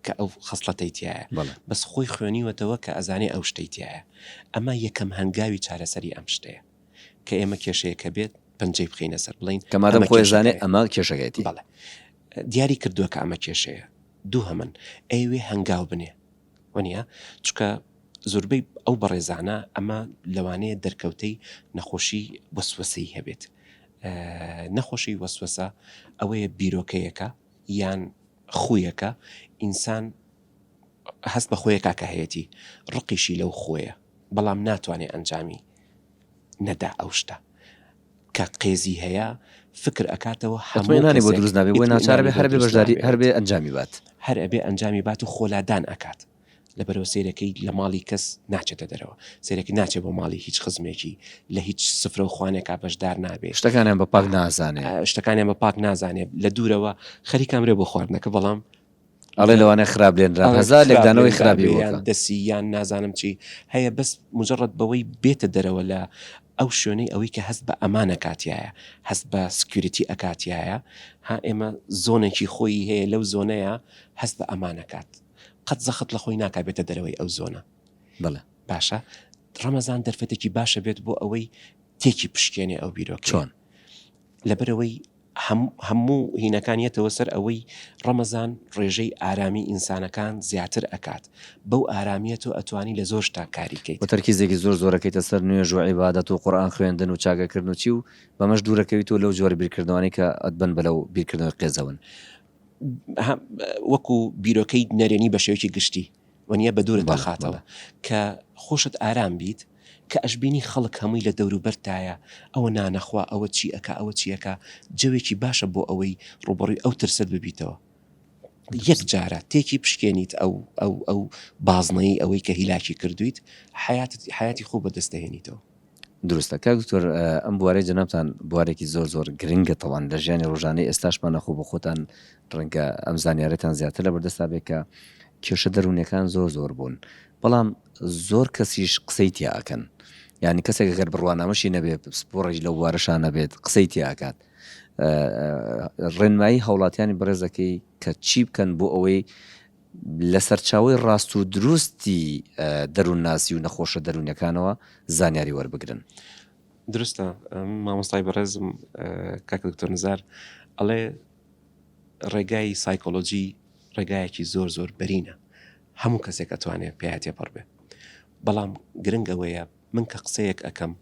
کە ئەو خەسڵەتەی تایە بەڵێ بەس خۆی خوێنیوەتەوە کە ئەزانێ ئەو شتەی تایە ئەمە یەکەم هەنگاوی چارەسەری ئەم شتەیە. کە ئێمە کێشەیەکە بێت پەنجەی بخینە سەر بڵین کە مادەم خۆی زانێ ئەمە کێشەکەێتی بەڵێ دیاری کردووە کە ئەمە کێشەیە دوو هەمن ئەوێ هەنگاو بنێ وەنیە چکە زۆربەی ئەو بەڕێزانە ئەمە لەوانەیە دەرکەوتەی نەخۆشی وەسوەسەی هەبێت نەخۆشی وەسوەسە ئەوەیە بیرۆکەیەەکە یان خویەکە ئینسان هەست بە خۆیەکا کە هەیەتی ڕقیشی لەو خۆیە بەڵام ناتوانێ ئەنجامی نەدا ئەو شتە کە قێزی هەیە فکر ئەکاتەوە هەموو ئیتمینانی بۆ کەسێک دروست نابێ بۆیە ناچارە بێ ئیتمینانی بۆ هەر بێ دروست بەشداری نابێ هەر بێ ئەنجامی بات. هەر ئەبێ ئەنجامی بات و خۆ لادان ئەکات لەبەرئەوە سەیرەکەی لە ماڵی کەس ناچێتە دەرەوە سەیرەکەی ناچێ بۆ ماڵی هیچ خزمێکی لە هیچ سفرەو خوانێکا بەشدار نابێ شتەکانیان بە پاک نازانێ. شتەکانیان بە پاک نازانێ لە دوورەوە خەریکە ئەمرێ بۆ خواردنەکە بەڵام ئەڵێ لەوانەیە خراپ لێنران ئەڵێ هەزار خراپ لێکدانەوەی لێنران خراپی بێ، بۆ یان کە. دەسی یان نازانم چی هەیە بەس مجرد بەوەی بێتە دەرەوە لە ئەو شوێنەی ئەوەی کە هەست بە ئەمان ئەکاتیایە هەست بە سکیوریتی ئەکاتیایە ها ئێمە زۆنێکی خۆیی هەیە لەو زۆنەیە هەست بە ئەمان ئەکات قەت زەخت لە خۆی ناکا بێتە دەرەوەی ئەو زۆنە بەڵێ باشە ڕەمەزان دەرفەتێکی باشە بێت بۆ ئەوەی تێکی پشکێنێ ئەو بیرۆکەیە چۆن؟ لەبەرەوەی هەموو هینەکان یەتەوە سەر ئەوەی ڕەمەزان ڕێژەی ئارامی ئینسانەکان زیاتر ئەکات بەو ئارامیە تۆ ئەتوانی لە زۆر شتا کاری کەیت. و تەرکیزێکی زۆر زۆر ئەکەیتە سەر نوێژ و عیبادەت و قورئان خوێندن و چاکە کردن و چی و بەمەش دوور ئەکەویتەوە لەو جۆرە بیرکردنەوانەی کە ئەتبەن بە لەو بیرکردنەوەی قێزەون. وەکو بیرۆکەی نەرێنی بە شێوەیەکی گشتی وەنیە بە دوورت ئەخاتەوە کە خۆشت ئارام بیت کە ئەشبینی خەڵک هەمووی لە دەورو بەرتدایە ئەوە نانە خوا ئەوە چی ئەکا ئەوە چی ئەکا جەوێکی باشە بۆ ئەوەی ڕوبەڕوی ئەو ترسەت ببیتەوە یەک جارە تێکی بشکێنیت ئەو ئەو ئەو بازنەی ئەوەی کە هیلاکی کردویت حەیاتت حەیاتی خۆ بەدەست دەهێنیتەوە. دروستە کاک دکتۆر ئەم بوارەی جەنابتان بوارێکی زۆر زۆر گرنگە تەوان لە ژیانی ڕۆژانەی ئێستاشمانە خۆ بە خۆتان ڕەنگە ئەم زانیارەتان زیاتر لە بەردەستا بێ کە کێشە دەروونەکان زۆر زۆر بوون بەڵام زۆر کەسیش قسەی تیا ئەکەن یانی کەسێک گەر بڕوانامەشی نەبێ پسپۆڕێک لەو بوارەشان نەبێت قسەی تیا ئەکات ڕێنمایی هاوڵاتیانی بەڕێزەکەی کە چی بکەن بۆ ئەوەی لە سەرچاوی ڕاست و دروستی دەروون ناسی و نەخۆشە دەروونەکانەوە زانیاری وەربگرن. درستە مامۆستای بەڕێزم کاک دکتۆر نزار ئەڵێ ڕێگای سایکۆلۆجی ڕێگایەکی زۆر زۆر بەرینە هەموو کەسێک ئەتوانێ پێیا تێپەڕ بێ بەڵام گرنگ ئەوەیە من کە قسەیەک ئەکەم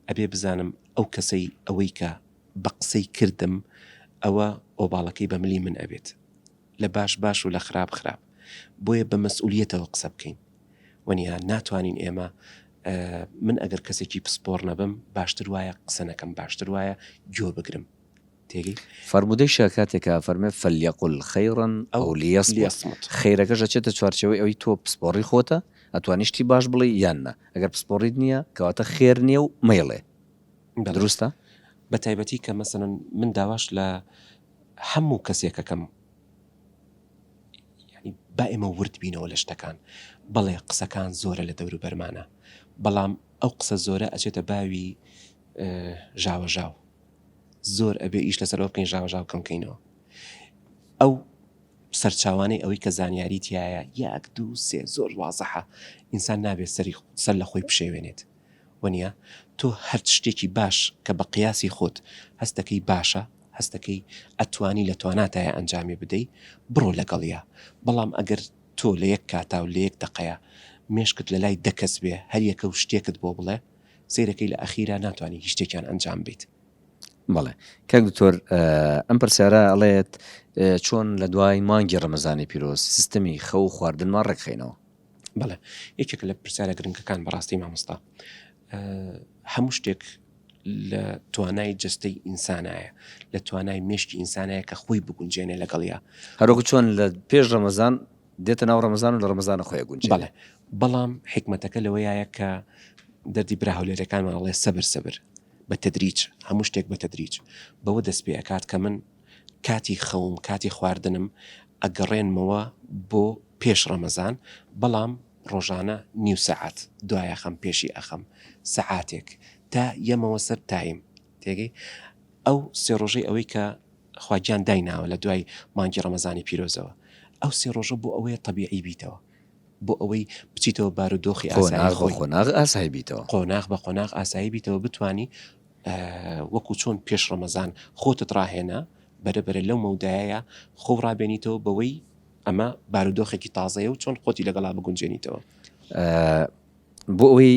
ئەبێ بزانم ئەو کەسەی ئەوەی کە بە قسەی کردم ئەوە ئۆباڵەکەی بە ملی من ئەبێت لە باش باش و لە خراپ خراپ بۆیە بە مەسئولیتەوە قسە بکەین وەنیها ناتوانین ئێمە من ئەگەر کەسێکی پسپۆڕ نەبم باشتر وایە قسە نەکەم باشتر وایە گوێ بگرم تێگەی؟ فەرموودەی شا کاتێکە ئەفەرمێ، فلیقل خیرا او لیصمت، خیرەکەش ئەچێتە چوارچێوەی ئەوەی تۆ پسپۆڕی خۆتە، ئەتوانی شتی باش بڵێی یان نا، ئەگەر پسپۆڕیت نییە کەواتە خێر نییە و مەیڵێ. دروستە؟ بە تایبەتی کە مەسەلەن من داواش لە هەموو کەسێک ئەکەم یانی با ئێمە ورد بینەوە لە شتەکان، بەڵێ قسەکان زۆرە لە دەوروبەرمانا، بەڵام ئەو قسە زۆرە ئەچێتە باوی ژاوەژاو، زۆر ئەبێ ئیش لەسەر ئەو قینژاوەژاو کەم کەینەوە ئەو سەرچاوانەی ئەوەی کە زانیاری تایە یاک دوو سێ زۆر وازەحە ئینسان نابێت سەری سەر لە خۆی بشێوێنێت وەنیە تۆ هەرچ شتێکی باش کە بە قیاسی خۆت هەستەکەی باشە هەستەکەی ئەتوانی لە تواناتایە ئەنجامی بدەی بڕۆ لەگەڵە بەڵام ئەگەر تۆ لە یەک کاتا و لە یەک دەقەیە مێشکت لە لای دەکەس بێ هەریەکە و شتێکت بۆ بڵێ سەیرەکەی لە ئەخیرا ناتوانانی هیچ شتێکیان ئەنجام بیت. بەڵێ کاک دکتۆر ئەم پرسیارە ئەڵێت چۆن لە دوای مانگی ڕەمەزانی پیرۆز سیستەمی خەو و خواردنمان ڕێکخینەوە بەڵێ یەکێک لە پرسیارە گرنگەکان بەڕاستی مامۆستا هەموو شتێک لە توانای جستەی ئینسانایە لە توانای مشکی ئینسانەیە کە خۆی بگونجێنێ لەگەڵیا هەرۆک چۆن لە پێش ڕەمەزان دێتە ناو ڕەمەزان و لە ڕەمەزانە خۆی ئەگونجێ. بەڵێ، بەڵام حیکمەتەکە لەوەیایە کە دەردی برا هەولێرەکانمان ئەڵێ سەبر سەبر، بە تەدریج، هەموو شتێک بە تەدریج بەوە دەست پێ ئەکات کە من کاتی خەوم، کاتی خواردنم ئەگەڕێنمەوە بۆ پێش ڕەمەزان، بەڵام ڕۆژانە نیو سەعات دوایەخەم، پێشی ئەخەم سەعاتێک تا یەمەوە سەر تایم. تێگەی ئەو سێ ڕۆژەی ئەوەی کە خوا گیان دایناوە لە دوای مانگی ڕەمەزانی پیرۆزەوە ئەو سێ ڕۆژە بۆ ئەوەیە تەبیعی بیتەوە بۆ ئەوەی بچیتەوە بارودۆخی ئاسایی خۆی قۆناغ بە قۆناغ ئاسایی بیتەوە قۆناغ بە قۆناغ ئاسایی بیتەوە بتانی وەکو چۆن پێش ڕەمەزان خۆتت ڕاهێنا بەرە بەرە لەو مەودایە خۆ ڕابێنیتەوە بەوەی ئەمە بارودۆخێکی تازەیە و چۆن خۆتی لەگەڵا بگونجێنیتەوە بۆ ئەوەی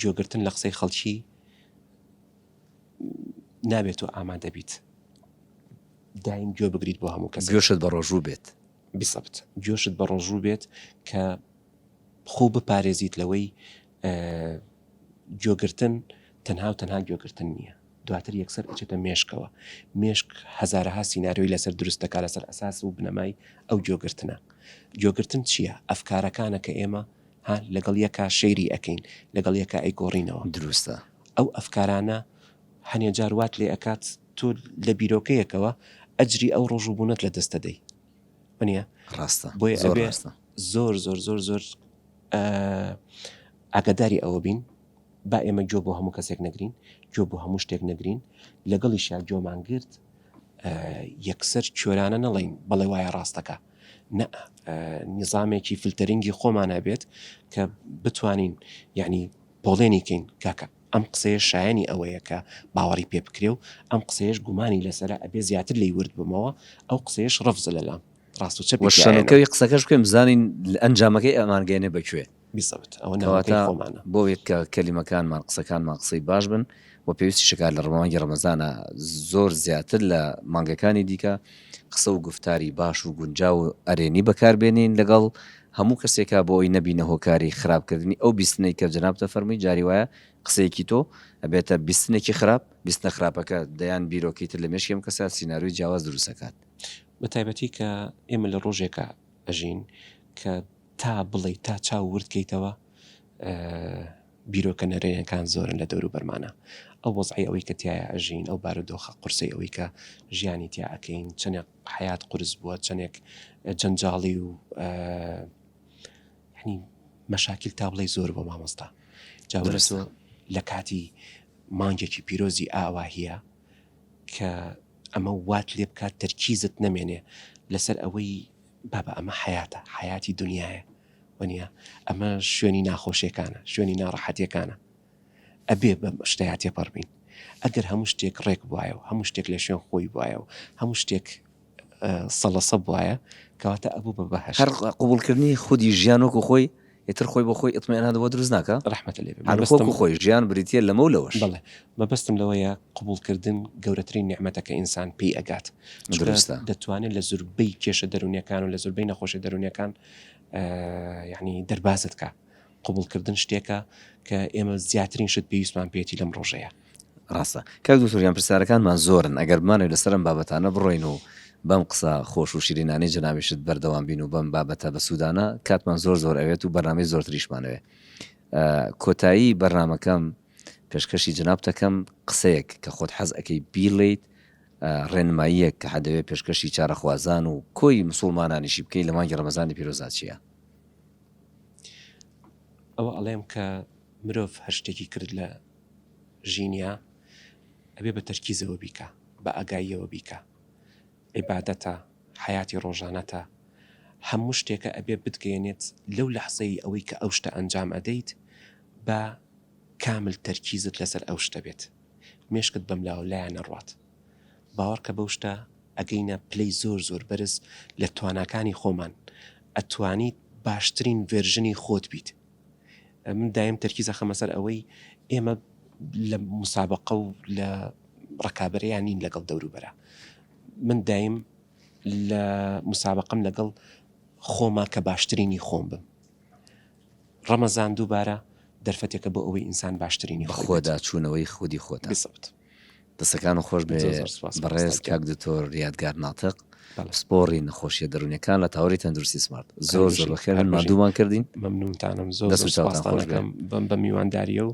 گوێگرتن لە قسەی خەڵکی نابێت تۆ ئامادە بیت دایم گوێ بگریت بۆ هەموو کەس گوێشت بە ڕۆژوو بێت بسەبت گوێشت بە ڕۆژوو بێت کە خۆ بپارێزیت لەوەی گوێگرتن تەنها و تەنها گوێگرتن نییە دواتر یەکسەر ئەچێتە مێشکەوە، مێشک هەزارەها سیناریۆی لەسەر دروست دەکات لەسەر ئەساس و بنەمای ئەو گوێگرتنە. گوێگرتن چییە؟ ئەفکارەکانە کە ئێمە ها لەگەڵ یەکا شەیری ئەکەین، لەگەڵ یەکا ئەیگۆڕینەوە. دروستە. ئەو ئەفکارانە هەنێ جار وات لێ ئەکات تۆ لە بیرۆکەیەکەوە ئەجری ئەو ڕۆژ و بوونەت لە دەست ئەدەی. وەنیە؟ ڕاستە. بۆیە ئەبێ زۆر زۆر زۆر زۆر ئاگاداری ئەوە بین با ئێمە گوێ بۆ هەموو کەسێک نەگرین، گوێ بۆ هەموو شتێک نەگرین، لەگەڵیشیا گوێمان گرت یەکسەر کوێرانە نەڵێین بەڵێ وایە ڕاستەکە نە نیزامێکی فلتەرنگی خۆمان هەبێت کە بتوانین یعنی پۆڵێنی کەین کاکە ئەم قسەیە شایانی ئەوەیە کە باوەڕی پێ بکرێ و ئەم قسەیەش گومانی لەسرە ئەبێ زیاتر لی ورد بمەوە ئەو قسەیەش ڕفزە لەلام ڕاست و چەپی شەنەکەوی قسەکەش بکەم زانین ئەنجامەکەی ئەمانگەێنێ بەکوێ بیزەوت ئەوە ناوەکەی خۆمانە. کەواتە بۆیە کە کەلیمەکانمان، قسەکانمان قسەی باش بن و پێویستیشە کە لە مانگی ڕەمەزانا زۆر زیاتر لە مانگەکانی دیکە قسە و گوفتاری باش و گونجاو و ئەرێنی بەکاربێنین لەگەڵ هەموو کەسێکا بۆ ئەوەی نەبینە هۆکاری خراپکردنی ئەو بیستنەی کە جەنابت دەفەرمووی جاری وایە قسەیەکی تۆ ئەبێتە بیستنێکی خراپ، بیستنە خراپەکە دەیان بیرۆکەی تر لە مێشکی ئەم کەسە سیناریۆی جیاواز دروست ئەکات. بەتایبەتی کە ئێمە لە ڕۆژێکا ئەژین کە. تا بڵێی تا چاو ورد کەیتەوە بیرۆکە نەرێنیەکان زۆرن لە دەوروبەرمانە ئەو وەزعی ئەوەی کە تایە ئەژین ئەو بارودۆخە قورسی ئەوەی کە ژیانی تیا ئەکەین چەندێک حیات قرس بووە چەندێک جەنجاڵی و ینی مەشاکیل تا بڵێ زۆر بۆ مامۆستا جاورەسۆ لە کاتی مانگێکی پیرۆزی ئاواهە کە ئەمە وات لێ بکات تەرکیزت نەمێنێ لەسەر ئەوەی بابە ئەمە حەیاتە حەیاتی دونیایە وەنیە ئەمە شوێنی ناخۆشیەکانە شوێنی ناڕەحەتیەکانە ئەبێ بەم شتەیا تێپەڕبین ئەگەر هەموو شتێک ڕێک بواە و هەموو شتێک لە شوێن خۆی بواە و هەموو شتێک سەڵەسە بواە کەواتە ئەبوو بە بەهشت قبولکردنی خودی ژیان وەکو خۆی ئیتر خۆی بۆ خۆی ئیتمئنان بۆ دروست ناکا؟ ڕەحمەتت لێ بێ. هەر وەکو مەبەستم. خۆی، ژیان بریتییە لەمە و لەوەش. بەڵێ. مەبەستم لەوەیە قبووڵکردن گەورەترین نیعمەتە کە ئینسان پێی ئەگات. چونکە دروستە. دەتوانێ لە زوربەی کێشە دەروونییەکان و لە زوربەی نەخۆشییە دەروونییەکان یەعنی دەربازت کا. قبووڵکردن شتێکە کە ئێمە زیاترین شت پێویستمان پێیەتی لەم ڕۆژەیا. ڕاستە کاک دکتۆر گیان پرسیارەکانمان زۆرن ئەگەر بمانەوێت لەسەر ئەم بابەتانە بڕۆین و بەم قسە خۆش و شیرینانەی جەنابیشت بەردەوام بین و بەم بابەتە بە سوودانە کاتمان زۆر زۆر ئەوێت و بەرنامەی زۆرتریشمانەوێت کۆتایی بەرنمەکەم پێشکەشی جنابتەکەم قسەیەک کە خۆت حەز ئەەکەی بیڵیت ڕێنماییەک کە حەدەوێت پێشکەشی چارەخوازان و کۆی مسلمانانیشی بکەی لە مانگی ڕەمەزانی پیرۆزاچیە ئەوە ئەڵێم کە مرۆڤ هەر شتێکی کرد لە ژینیە ئەبێ بە تەرکیزەوە بیکا بە ئاگاییەوە بیکا عیبادەتە حەیاتی ڕۆژانەتە هەموو شتێکە ئەبێ بتگەیەنێت لەو لەحزەی ئەوەی کە ئەو شتە ئەنجام ئەدەیت با کامل تەرکیزت لەسەر ئەو شتە بێت مێشکت بەم لاوە لایە نەڕوات باوەڕکە بەو شتە ئەگەینە پلەی زۆر زۆر بەرز لە تواناکانی خۆمان ئەتوانیت باشترین ڤێرژنی خۆت بیت. من دایم تەرکیز ئەخەمە سەر ئەوەی ئێمە لە مسابقە و لە ڕکابەرەیان نین لەگەڵ دەوروبەرە من دایم لە مسابقەم لەگەڵ خۆما کە باشترینی خۆم بم ڕەمەزان دووبارە دەرفەتێکە بۆ ئەوەی ئینسان باشترینی خۆدا چوونەوەی خودی خۆت بسەوت دەستەکانت خۆش بێ بەڕێز کاک دکتۆر یادگار ناتق پسپۆڕی نەخۆشیە دەرونەکان لە تاوەری تەندروستی سمارت زۆر زۆر بەخێن مادوومان کردین مەمنونتانم زۆر سپاسەکەم بم بە میوانداریە و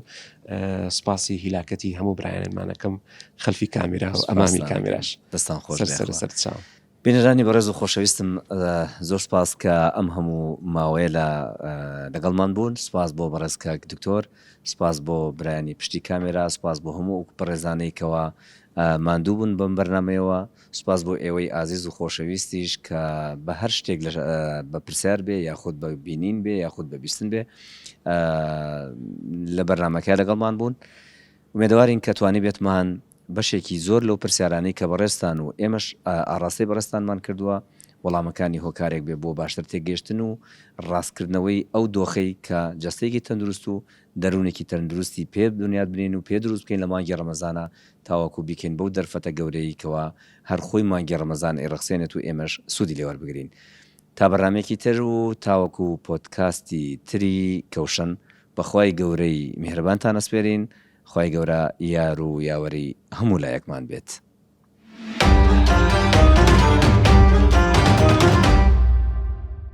سپاسی هیلاکەتی هەموو برایانمانەکەم خەلفی کامیرا و ئەمامی کامیراش دەستان خۆش سەر سەر چاو. بینەرانی بەڕێز و خۆشەویستم زۆر سوپاس کە ئەم هەموو ماوەیە لە لەگەڵمان بوون سوپاس بۆ بەڕێز کاک دکتۆر سوپاس بۆ برایانی پشتی کامێرا سوپاس بۆ هەموو ئەو بەڕێزانەی کەەوە ماندوو بوون بەم بەرنمەیەوە سوپاس بۆ ئێوەی ئازیز و خۆشەویستیش کە بە هەر شتێک لە بە پرسیار بێ یاخود بە بینین بێ یاخود بە بیستن بێ لە بەرنمەکە لەگەڵمان بوون ومێدەوارین کە توانی بێتمان بەشێکی زۆر لەو پرسیارانەی کە بەڕێزتان و ئێمەش ئاڕاستەی بەڕێزتانمان کردووە، وەڵامەکانی هۆکارێک بێ بۆ باشتر تێگەیشتن و ڕاستکردنەوەی ئەو دۆخەی کە جەستەیەکی تەندروست و دەروونێکی تەندروستی پێ بنیات بنێین و پێ دروست بکەین لە مانگی ڕەمەزانا تاوەکو بیکەین بەو دەرفەتە گەورەیەی کەوا هەر خۆی مانگی ڕەمەزان ئەیڕەخسێنێت و ئێمەش سوودی لێ وەربگرین. تا بەرنامەیەکی تر و تاوەکو پۆدکاستی تری کەوشن بە خوای گەورەی میهرەبانتان ئەسپێرین. خوای گەورە یار و یاوەری هەموو لایەکمان بێت.